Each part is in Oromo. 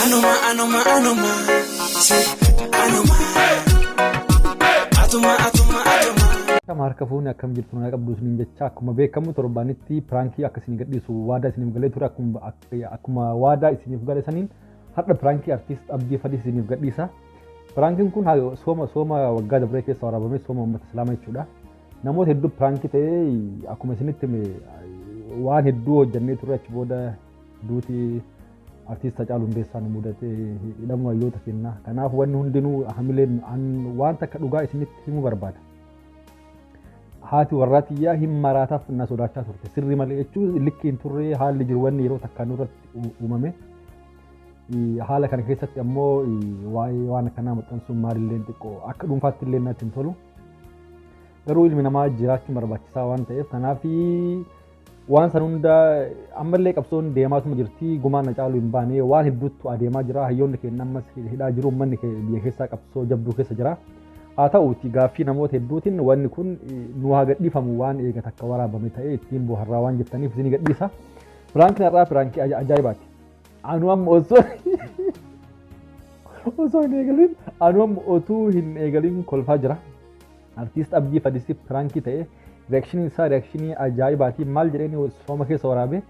Anuma anuma anuma si anuma atuma atuma atuma. Akkam harka fuunee akkam jirtu nagaa qabdu isiniin jecha akkuma beekamu torbaanitti piraankii akka isin gadhiisu waadaa isiniif galee ture akkuma akka- akkuma waadaa isiniif gale saniin har'a piraankii artiist Abdii Fadii isiniif gadhiisa. Piraankiin kun haa- sooma sooma waggaa dabree keessa waraabame sooma uummata islaamaa jechuudha. Namoota hedduu piraankii ta'ee akkuma isinitti hime waan hedduu hojjannee turre achi booda Duuti artiist Hacaaluu Hundeessaa nu mudate hidhamuu hayyoota kennaa. Kanaaf wanni hundinuu hamileen an waan takka dhugaa isinitti himuu barbaada. Haati warraa tiyyaa hin maraataaf na sodaachaa turte. Sirri malee jechuun likki hin turre haalli jiru wanni yeroo takkaa nurratti u- uumame. Eh, Haala kana keessatti ammoo eh, waa'ee waan akkanaa maxxansuun maalillee xiqqoo akka dhuunfaatti illee natti hin tolu. Garuu ilmi namaa jiraachuun barbaachisaa waan ta'eef kanaaf Waan san hunda ammallee qabsoon deemaatuma jirti gumaan na caalu hin baane waan hedduutu adeemaa jira hayyoonni keenya ammas hidhaa jiru uummanni keenya biyya keessaa qabsoo jabduu keessa jira. Haa ta'uuti gaaffii namoota hedduutiin wanni kun nu haa gadhiifamu waan eega takka waraabame ta'ee ittiin booharraa waan jettaniif isin gadhiisa. Piraankiin har'aa piraankii ajaa'ibaati. Anu amma osoo osoo hin eegalin anu amma otuu hin eegalin kolfaa jira. Artiist Abdii Fadisi piraankii ta'e reakshinii isaa reakshinii ajaa'ibaati maal jedheen sooma keessa waraabe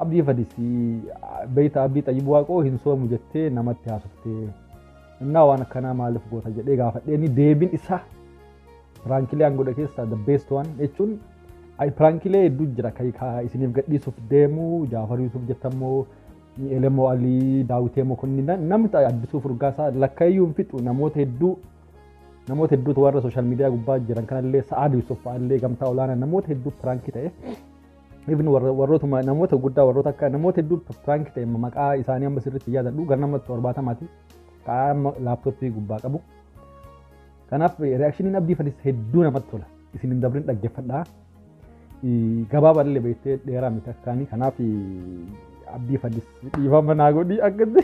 Abdii Fadisi beeyta Abdii Xayyib Waaqoo hin soomu jettee namatti haasoftee innaa waan akkanaa maaliif goota jedhee gaafadheen deebiin isaa piraankilee an godhe keessaa the best one jechuun ay piraankilee hedduu jira kan kaa isiniif gadhiisuuf deemu Jaafar Yuusuf jettammoo Elemoo Alii Daawitee Mokonnin namni addisuu furgaasaa lakkayyuu hin fixu namoota hedduu Namoota hedduutu warra sooshaal miidiyaa gubbaa jiran kanallee Sa'aad Yuusuf fa'aallee gamtaa olaanaa namoota hedduu piraankii ta'e. Ibn warrootuma namoota guddaa warroota akka namoota hedduu piraankii ta'e maqaa isaanii amma sirriitti yaadadhu gara nama torbaatamaati. Ka'aa amma laaptooppii gubbaa qabu. Kanaaf reaakshiniin abdii fadis hedduu namatti tola. Isin hin dabrin dhaggeeffadhaa. Gabaabaa illee beektee dheeraa miti akkaanii kanaaf abdii fadis dhiifama naa godhi akkatti.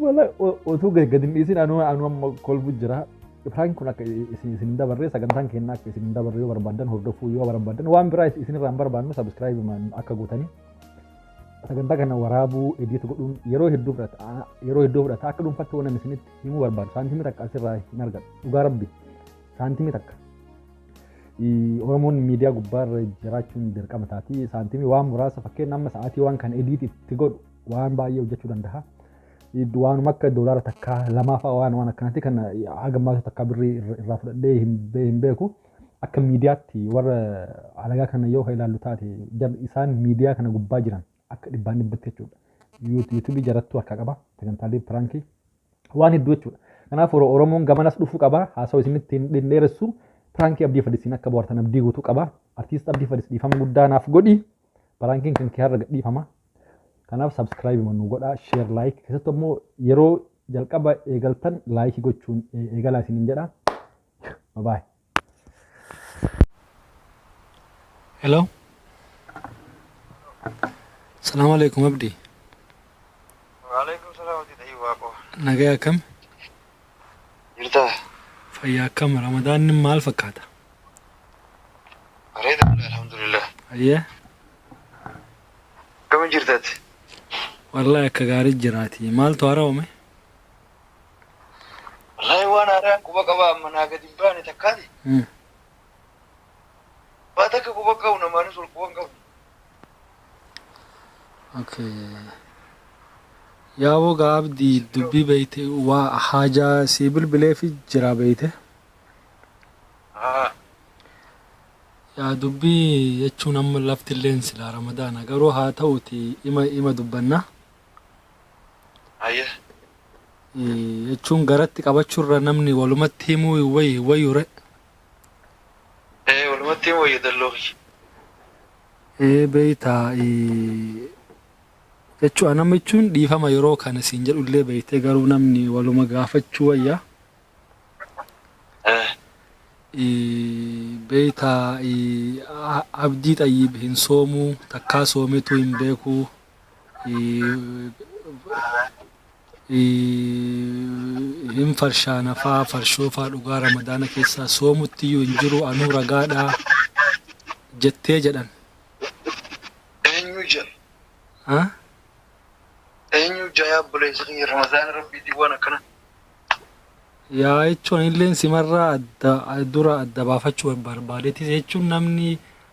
Wala utuu gadi hin dhiisin anuu anuu amma kolbu jira. Prank kun akka isin isin dabarree sagantaan keenya akka isin dabarree yoo barbaadan hordofuu yoo barbaadan waan biraa isin irraa hin barbaannu subscribe akka gootanii sagantaa kana waraabuu edit godhuun yeroo hedduu fudhata yeroo hedduu fudhata akka dhuunfatti waan isinitti himuu barbaadu saantimii takka asirraa hin argadhu dhugaa rabbi saantimii takka Oromoon miidiyaa gubbaarra jiraachuun dirqama taati. Saantimii waan muraasa fakkeenya amma sa'aatii waan kan ediit itti godhu waan baay'ee hojjechuu danda'a. Waanuma akka doolaara takkaa lamaafaa waan waan akkanaatti kan haga maasuu takkaa birrii irraa fudhadhee hin beeku. Akka miidiyaatti warra alagaa kana yoo ilaallu taate isaan miidiyaa kana gubbaa jiran akka dhibbaan dhibbatti jechuudha. Yuutuubii jarattuu harkaa qaba sagantaalee piraankii waan hedduu jechuudha. Kanaaf Oro- Oromoon gamanas dhufuu qaba. Haasa'u isinitti hin hin dheeressu. Piraankii Abdii Fadisiin akka bohaartan abdii guutuu qaba. Artiist Abdii Fadis dhiifama guddaa naaf godhi. Piraankiin kan kee har'a gad dhiifama. Kanaaf subscribe nu godhaa, share, like. Keessattuu immoo yeroo jalqaba eegaltan like gochuun eh, eegalaa isiniin jedha. Bye bye. Hello. Salaam alaikum Abdi. Waalaikum salaam hojii ta'ii waaqoo. Nagaya akkam? Jirtaa? Fayyaa akkam? Ramadaan maal fakkaata? Bareeda alhamdulillah. Ayyee. Akkamiin jirtaati? Wallahi akka gaarii jiraati. Maaltu haaraa'ume? Wallahi waan haaraan quba qabaa amma naa gadi hin baane takkaati. Mm. Waa takka quba hin qabu namaanis wal quba hin qabu. Okay. Yaa wogaa abdii dubbii beeyte waa haajaa sii bilbileefi jira beeyte. Haa. Yaa dubbii jechuun amma lafti illeen silaa ramadaana garuu haa ta'uti ima ima dubbanna. Haye. jechuun garatti qabachurra namni walumatti himuu hin wayyu hin wayyu re. Ee walumatti hin wayya dalloo kiyya. Ee beeytaa jechuu anama jechuun dhiifama yeroo kana siin jedhullee beeytee garuu namni waluma gaafachuu wayya. Eh. Beeytaa abdii xayyiib hin soomuu takkaa soometuu hin beekuu hin farshaana faa farshoo faa dhugaa ramadaana keessaa soomutti iyyuu hin jiru anuu ragaadhaa jettee jedhan. Eenyu jedha? Ha? Eenyu jaya obboleessa kiyya Ramadaana Rabbiitiin waan akkana. Yaa jechuun illeen simarraa adda dura adda baafachuu barbaadeetis jechuun namni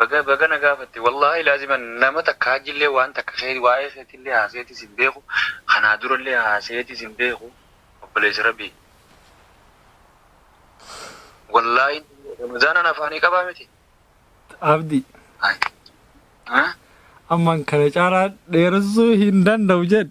Baga baga na gaafatte wallaahi laazima nama takka hajjillee waan takka kee waa'ee keetillee haaseetis hin beeku kanaa durallee haaseetis hin beeku obboleessa rabbii wallaahi ramazaanan afaanii qabaa miti Abdi. Ay. Ah? Amman kana caalaa dheeressuu hin danda'u jedhe.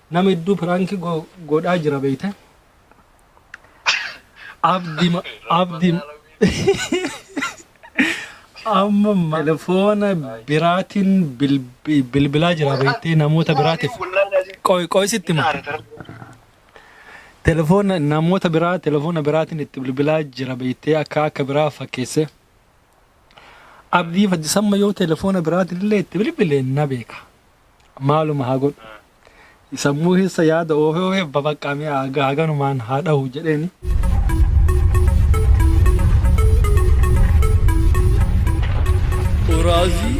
Nama hedduu piraanki godhaa jira beeyte. Abdi abdi amma telefoona biraatiin bilbilaa jira beeyte namoota biraatiif. Qoy qoy sitti ma. Telefoona namoota biraa telefoona biraatiin itti bilbilaa jira beeyte akka akka biraa fakkeesse. Abdii faddisamma yoo telefoona biraatiin illee itti bilbile na beeka. maaluma haa godhu sammuu keessa yaada oofee oofee babaqqaa mi'a haga- haganumaan haa dhahu jedheeni. Uraazii